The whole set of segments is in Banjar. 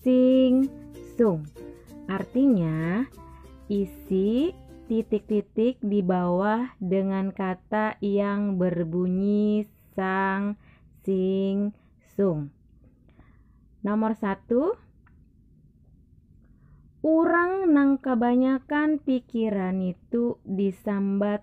Sing sung. Artinya, isi titik-titik di bawah dengan kata yang berbunyi sang sing sung. Nomor satu, orang nang kebanyakan pikiran itu disambat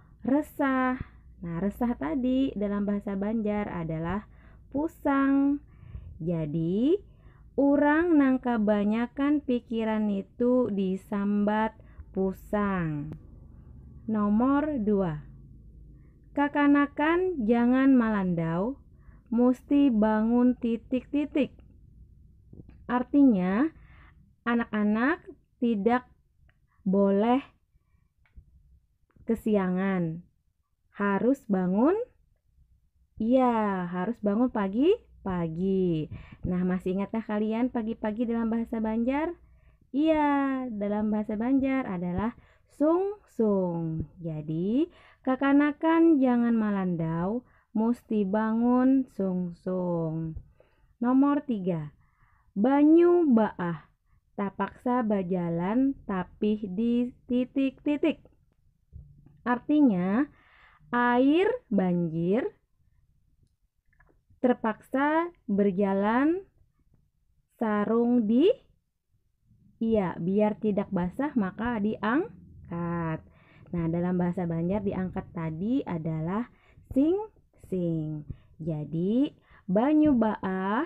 resah. Nah, resah tadi dalam bahasa Banjar adalah pusang. Jadi, orang nang kabanyakan pikiran itu disambat pusang. Nomor dua, kakanakan jangan malandau, musti bangun titik-titik. Artinya, anak-anak tidak boleh kesiangan. Harus bangun Iya, harus bangun pagi-pagi. Nah, masih ingatkah kalian pagi-pagi dalam bahasa Banjar? Iya, dalam bahasa Banjar adalah sungsung. Jadi, kakanakan jangan malandau, musti bangun sungsung. Nomor tiga, banyu baah. tapaksa bajalan tapih di titik-titik. Artinya, air banjir terpaksa berjalan sarung di iya biar tidak basah maka diangkat. Nah, dalam bahasa Banjar diangkat tadi adalah sing-sing. Jadi, banyu baah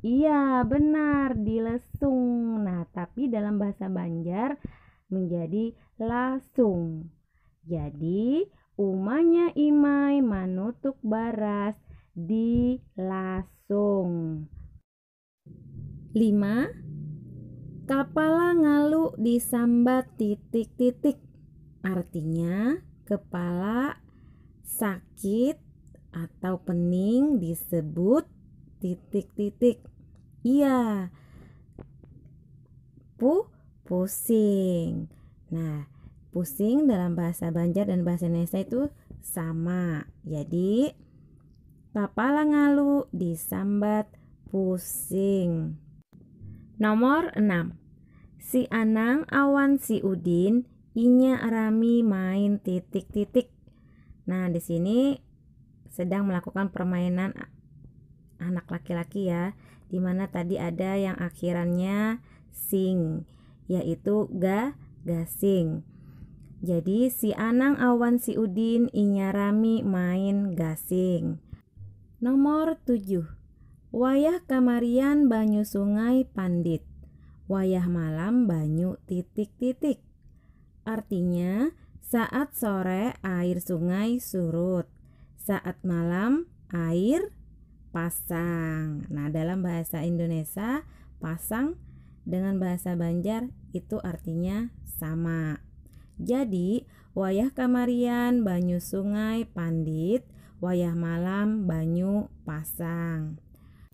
Iya, benar, dilesung. Nah, tapi dalam bahasa Banjar menjadi lasung. Jadi, umanya Imai manutuk baras di lasung. 5. Kapala ngalu disambat titik-titik. Artinya, kepala sakit atau pening disebut titik titik iya pu pusing nah pusing dalam bahasa Banjar dan bahasa Indonesia itu sama jadi papala ngalu disambat pusing nomor 6 si Anang awan si Udin inya rami main titik titik Nah, di sini sedang melakukan permainan anak laki-laki ya, dimana tadi ada yang akhirannya sing, yaitu ga gasing. Jadi si Anang awan si Udin inya rami main gasing. Nomor tujuh Wayah kamarian banyu sungai pandit, wayah malam banyu titik-titik. Artinya, saat sore air sungai surut, saat malam air pasang. Nah, dalam bahasa Indonesia, pasang dengan bahasa Banjar itu artinya sama. Jadi, wayah kamarian banyu sungai pandit, wayah malam banyu pasang.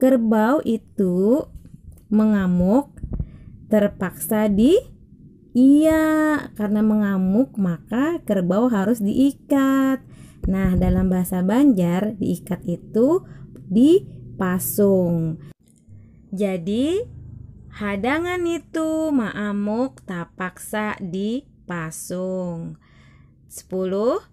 Kerbau itu mengamuk terpaksa di iya karena mengamuk maka kerbau harus diikat. Nah, dalam bahasa Banjar diikat itu dipasung. Jadi hadangan itu maamuk tapaksa dipasung. 10.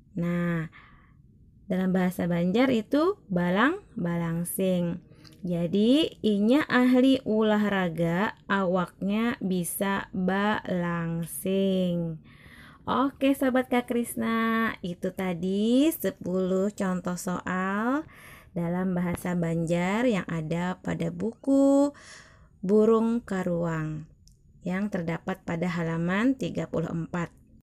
Nah, dalam bahasa Banjar itu balang balangsing. Jadi inya ahli ulahraga awaknya bisa balangsing. Oke sobat Kak Krisna, itu tadi 10 contoh soal dalam bahasa Banjar yang ada pada buku Burung Karuang yang terdapat pada halaman 34.